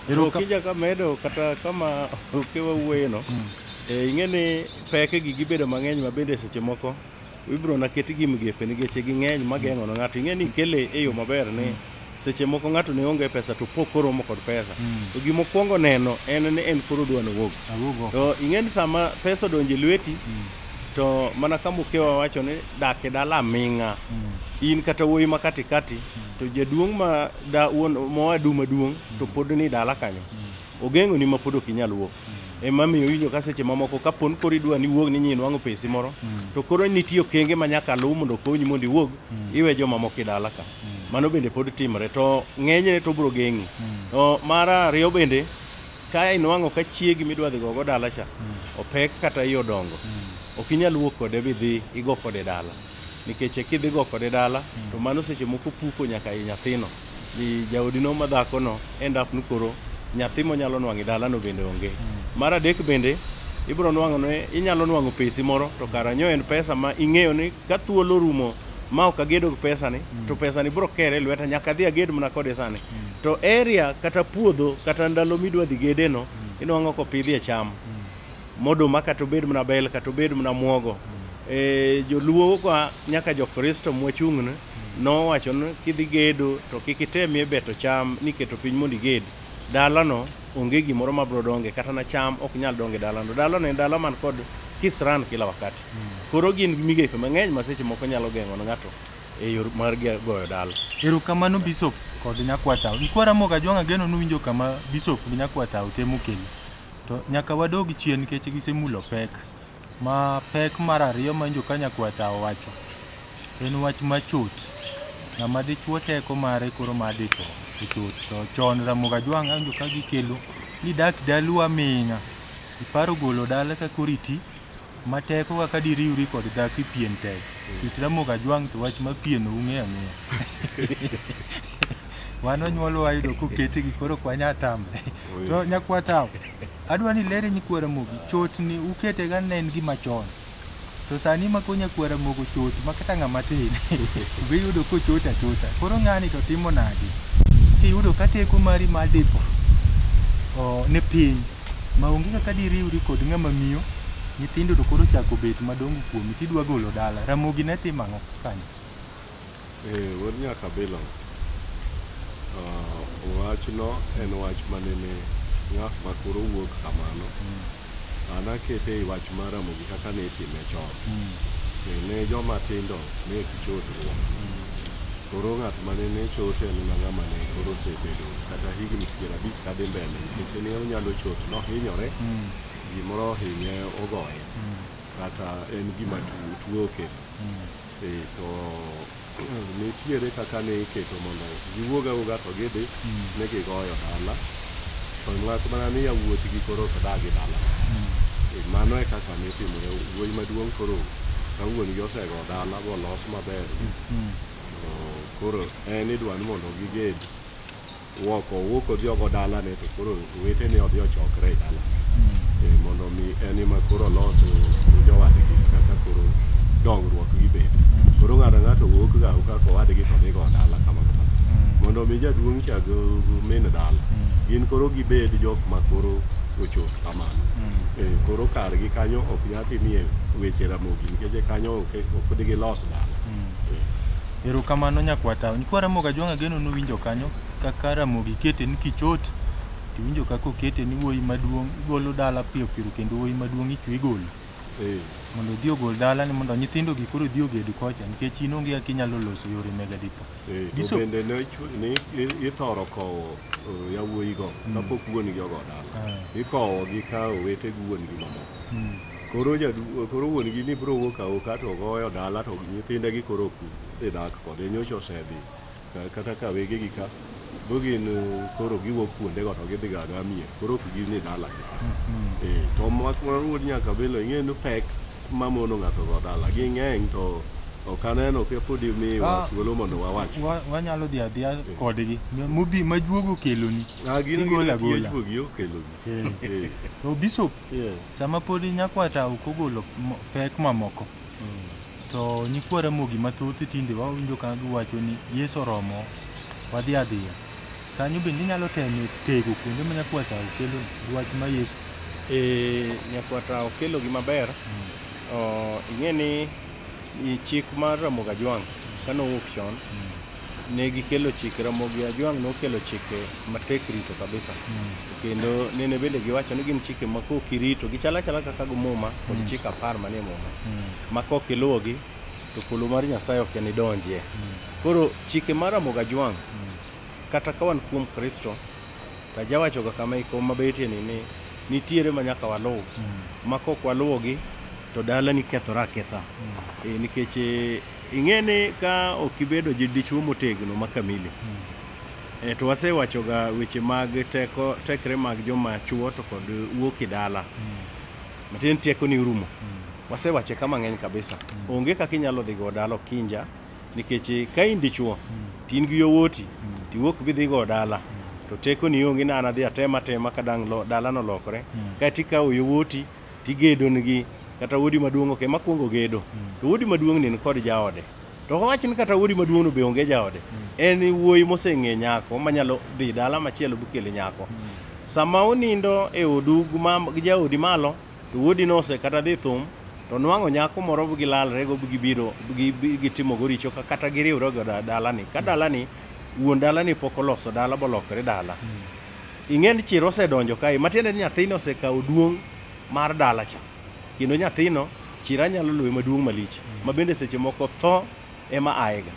Okija ka medo kata kama okewa wuoyeno eh, ing'e ni pekegi gibedo mang'eny ma bende seche moko ibiro na ketgi migepe nikech ging'eny mageng'o na ng'ato ing'e ni kele e yo maber ni seche moko ng'ato ne onge pesa to pok koromo kod pesa mm. to gima okwongo neno en ni en koro dwa nowuog to ing'eni sama pesa odonje lweti mm. to mana ka mukewa wacho ni dak e dala aming'a mm. in kata wuoyi ma katikati mm. to jaduong' ma da wuon moa du maduong' mm. to pod ni dala kanyo mm. ogeng'o ni mapod ok inyal wuok ema miyo winjo ka seche mamoko ka pon koro idwa ni wuog ni nyi nwang'o pesi moro to koro nitie okenge ma nyaka luw mondo okonyi mondo iwuog iwe jomamoko e dala ka mano bende pod timre to ng'enyne to bro geng'i to mar ariyo bende ka inwang'o ka chiegi midwa dhi gogo dala cha opek kata iye odongo ok inyal wuok kode bidhi igo kode dala nikech e kidhi go kode dala mm. to mano seche moko puko nyaka i nyathino i jaodino ma dhakono end up ni koro nyathi monyalo nwang'o i dalano bende onge mm. mar adek bende ibiro nwang'o ne inyalo nwang'o pesi moro to karanyo en pesa ma ing'eyo ni ka thuolo rumo ma ok agedo gi pesani mm. to pesani biro kere lweta nyaka adhi aged mana kode sani mm. to area kata puodho kata ndalo midwa dhi gedeno mm. inwang'o kopidhie cham mm. Moduma kata obed mana bel kata obed mana muogo. E, joluo kwa nyaka jokristo mwachung'ne nowacho ni kidhi gedo to kik itemie beto cham niketo piny mondo iged. Dalano onge gimoro ma bro donge kata na cham ok nyal donge dalano. Dalano en dala man kod kisran kila wakati. Koro gin migepe mang'eny ma seche moko nyalo geng'o ne ng'ato e yor mar ge- goyo dala. Erokamano Bishop kod Nyakwatao. Ikwara Moga Jwang' ageno nuwinjo kama Bishop gi Nyakwatao temo kelo. To nyaka wadog chien nikech gisemulo pek. Ma pek mar ariyo ma njo kanyakwata owacho en wach machot. Ng'ama dichuo teko mare koro ma ditho e chot. To chon Ramogi Ajwang' awinjo ka gikelo ni dak dalu aming'a. Iparo golo dala ka koro iti. ma teko kaka diriwri kod dhako e pien tek kit Ramogi Ajwang' to wach ma pien ung'e ang'eya wan onyuolo wayudo koketegi koro ok wanya tamre to nyakwa tawo adwa ni lere nyikwa Ramogi chotni uketega ne en gima chon to sani ma ko nyakwa Ramogi ochot ma kata ng'ama tin be iyudo kochot achota koro ng'ani to timo nadi kiyudo ka teko mari mar dipo o, ni piny ma onge kaka diriwri kod ng'ama miyo nyithindo to koro chako bet madongo kuomi tidwa golo dala ramogi ne timo ang'o kanyo eh wuod nyaka bilo wachno en wach manene ng'at ma koro wuok kamano an akete e wach mar ramogi kaka ne itime chon ne joma tindo ne ok chodruok koro ng'at mane ne chote en mana ng'ama ne koro osebedo kata higni piero abich kadhi mbele nikech ne onyalo chot nohinyore gimoro ohinye ogoye kata en gima tu- tuo okelo Eh, to nitiere kaka ne iketo mondo giwuog awuoga to gidhi ne gigoyo dala to mak mana ni yawuotgi koro ok dagi dala Eh, mano e kaka nitimore wuoyi maduong' koro ka wuon-gi osego dala bolos maber to koro en idwa ni mondo giged Wuok owuok odhi ogo dalane to koro wetene odhi ochokre e dala e, mondo mi en ema koro olos gi jowadgi kaka koro dongruok gi bed. Koro ng'ato ng'ato wuok ga kaka owadgi to dhigo dala kama kama. Mondo mi jaduong' chag min dala. Gin koro gibed jok ma koro ochop kamano. E, koro kargi kanyo ok nyal timie weche ramogi nikech kanyo ok ok digi los dala. Erokamano nyakwata. Nyikwa Ramogi Ajwang' ageno nuwinjo kanyo kaka Ramogi kete ni kichot tiwinjo kaka okete ni wuoyi maduong' igolo dala piyo piyo kendo wuoyi maduong' ichwe igolo eh. mondo odhi ogol dala ni mondo nyithindo gi koro odhi oged kocha nikech in onge kaka inyalo loso yore mega dipo. Eh, to bende ne ithoro kowo eh, yawuoyigo mm. kapok wuon gi ogo dala ah. ikowogi ka owete gi wuon gi mamoko mm. Koro jadu koro wuon gi ni bro wuok awoka to goyo dala to nyithinde gi koro ok dhi dak kode nyocha osedhi ka- kata ka wege gi ka bo gin eh, koro giwuok kuonde go to gidhi ga gamie koro ok gin ni dala gi eh to mak mar wuod nyaka belo ing'e ni pek ma mono ng'ato go dala gi ng'eng to ok aneno ka podi mi Ah. thuolo mondo wawach Wa- wanyalo dhi adhiya kodgi mubi majuogo keloni Ah, gin Igolo gin agola. tiejuogi okelogi Eh. Eh. to bishop Yes. Sama podi nyakwata ok ogolo mo- pek mamoko to nyikwa Ramogi mathoth tinde wawinjo ka giwacho ni Yesu oromo wadhi adhiya. Kanyo bende inyalo temo tego kuonde ma nyakwata okelo wach ma Yesu Eh, nyakwata okelo gi maber oh, ing'e ni i chik mar Ramogi Ajwang' kane owuok chon ne gikelo chike Ramogi Ajwang' nokelo chike matek rito kabisa kendo nene bende giwacho ni gin chike ma kok irito gichalo achala kaka go muma kod Mm. chike apar manie muma ma kok iluwogi to polo mar Nyasaye ok en idonjie koro chike mar Ramogi Ajwang' kata ka wan kuom Kristo to ajawachoga kama iko mabetie ni ni nitiere ma nyaka waluw ma kok waluwogi to dalani kethore aketha Eh, nikech eh, Ing'e ni ka ok ibedo gi dichwo motegno ma kamili, eh, to wasewachoga weche mag teko tekre mag joma chwo to kod wuok e dala. Matiende ni teko ni orumo. Wasewache ka mang'eny kabisa. Onge kaka inyalo dhi go dala okinja nikech eh, ka in dichwo to in gi yowuoti to iwuok bidhi go dala to teko ni onge ni an adhi atema atema ka dang' lo- dalano lokore. Kaeto ikawo yowuoti tigedo nigi kata wuodi maduong' ok ema kwongo gedo to wuodi maduong' ni nikod jaode to wach ni kata wuodi maduong'no be onge jaode en wuoyi moseng'e nyako manyalo dhi dala machielo bikele nyako sama unindo e odu gi mam- gi jaodi malo to wuodi nose kata dhi thum to nwang'o nyako moro bi gilalrego bi gibiro bi gi- bi gitimogo richo ka- kata giriwrego da- dalani ka dalani wuon dalani pok oloso dala bolokore dala ing'e ni chir osedonjo kae matiende ni nyathino osekawo duong' mar dala cha kendo nyathino chira nyalo luwe maduong' malich ma bende seche moko tho ema aega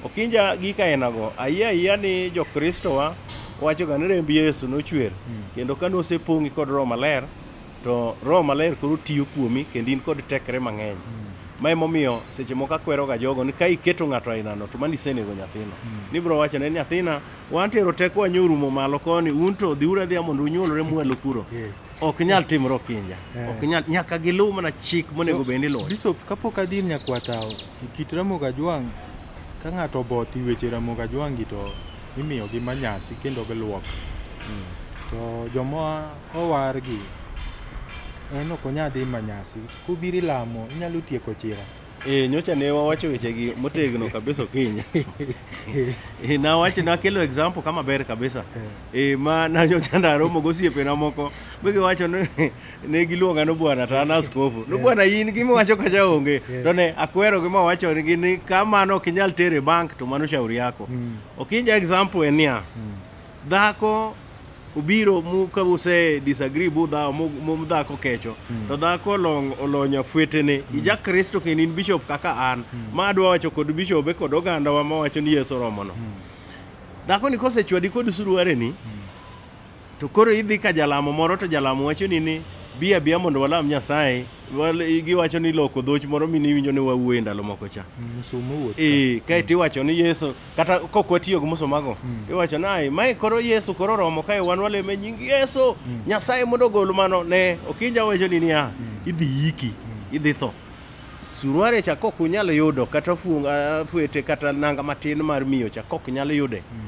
okinja gi kainago ayie ayiya ni jokristowa wachoga ni remb yesu nochwer kendo ka nosepong'i kod roho maler to roho maler koro tiyo kuomi kendo in kod tekre mang'eny ma emomiyo seche moko akweroga jogo ni ka iketo ng'ato ainano to mano isenego nyathino nibiro wachone ni nyathina Wan tero tekowa nyo rumo malo koni, un to dhiuru adhiya mondo unyuolre mwelu kuro. Ok nyal timre okinja. Eh. Ok nyal nyaka giluw mana chik monego bed ni iluwo. Bishop, kapok adhi ir nyakwatao, e kit Ramogi Ajwang' ka ng'ato oboth i weche Ramogi Ajwang' gi to imiyogi manyasi kendo giluok. Hmm. To joma owargi en ok onyal dhi manyasi. Kubiro ilamo, inyalo tieko chira. Eh, nyocha ne wawacho wechegi motegno kabisa okinyi. Eh, nawacho nakelo example kama ber kabisa. Eh, ma na nyocha naromo gosiepena moko be giwacho ni ne giluonga no bwana to an askofu. No bwana in gima wacho kacha onge. To ne akwero gima wacho ni ni kamano ok inyal tere bank to mano shauri yako. Okinja example en niya. dhako obiro mu ka use disagree bu dhawo mu mu dhako kecho to dhako olong olonya fwetene ija kristo kendo in bishop kaka an ma adwa wacho kod bishobe kod ogandawa ma wacho ni yesu oromono dhako ni kosechwadi kod suruareni to koro idhi ka jalamo moro to jalamo wacho ni ni bi abia mondo walam nyasaye Wal- giwacho ni loko dhoch moro mine iwinjo ni wawuoye ndalo moko cha Msumu wuoth. ee kaeto iwacho ni yesu kata kok watiyo gi musomago mm. iwacho naye mae koro yesu koro romo kae wan waleme nying yesu mm. nyasaye mondo ogol mano ne okinja wacho ni niya mm. idhi yiki mm. idhi tho suruare cha kok unyalo yudo kata funga fuete kata nanga matin mar miyo cha kok nyalo yude mm.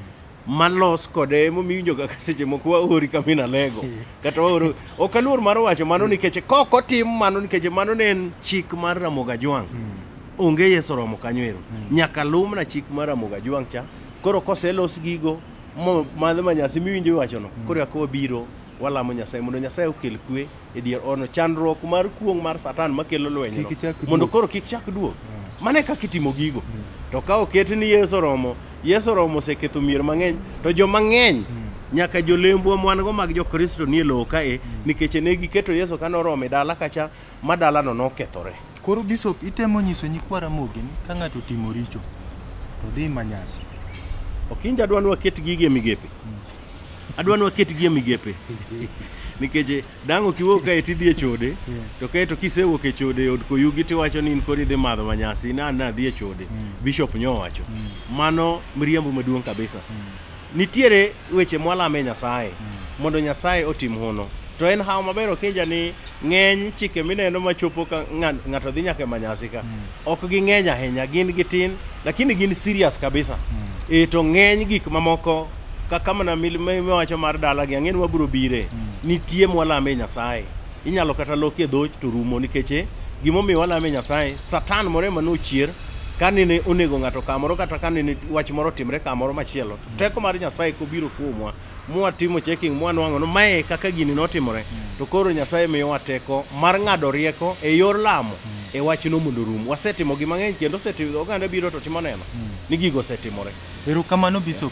malos kode emomiwinjo kaka seche moko waori kamina lego mm. kata waoro ok aluor mar wacho mano mm. nikech kok otim mano nikech mano ne en chik mar ramoga jwang' mm. onge Yesu romo kanyo ero mm. nyaka lum na chik mar Ramogi Ajwang' cha koro koselos gigo madhe ma nyasi miwinjo iwachono mm. koro yako wabiro walamo Nyasaye mondo Nyasaye okel kwe e dier ono chandruok mar kuong' mar satan makelo lwenyno mondo koro kik chak duog mm. mane kaka itimo gigo mm. to ka oket ni Yesu romo Yesu romo oseketho mier mang'eny to jo mang'eny mm. nyaka jolembwa mwan go mag jokristo nie lowo kae nikech ne giketo yesu ka noromo e dala kacha ma dalano nokethore. Koro Bishop itemo nyiso nyikwa Ramogi ni ka ng'ato otimo richo to dhi ma nyasi. Okinja adwa ni waket gigi e migepe. Adwa ni waket gi e migepe. Nikech dang' ok iwuog kae to idhi e chode, to kae to kisewuok e chode e od koyugi to iwacho ni in koro idhi madho manyasi, in an nadhi e chode. Bishop nyowacho. Mano miriambo maduong' kabisa. Nitiere weche mwalame Nyasaye mondo Nyasaye otim hono. To en hawo maber okinja ni ng'eny chike mineno machopo ka ng'a- ng'ato dhi nyaka e manyasi ka. Ok ging'eny ahinya, gin gitin, lakini gin serious kabisa. E to ng'eny gik mamoko kaka mana mil- miwacho mar dalagi ang'e ni wabiro bire. Nitie mwalame Nyasaye. Inyalo kata loki e dhoch to rumo nikech eh, gimomiyo walame Nyasaye, Satan moro ema nochier kane ne onego ng'ato kamoro kata kane ne wach moro timre kamoro machielo. Teko mar Nyasaye kobiro kuomwa mwatimo checking mwanwang'o no mae kaka gini notimore to koro Nyasaye miyowa teko mar ng'ado rieko e yor lamo e wachno mondo rum. Wasetimo gi mang'eny kendo osetimo oganda biro to timo neno ni gigo osetimore. Erokamano Bishop.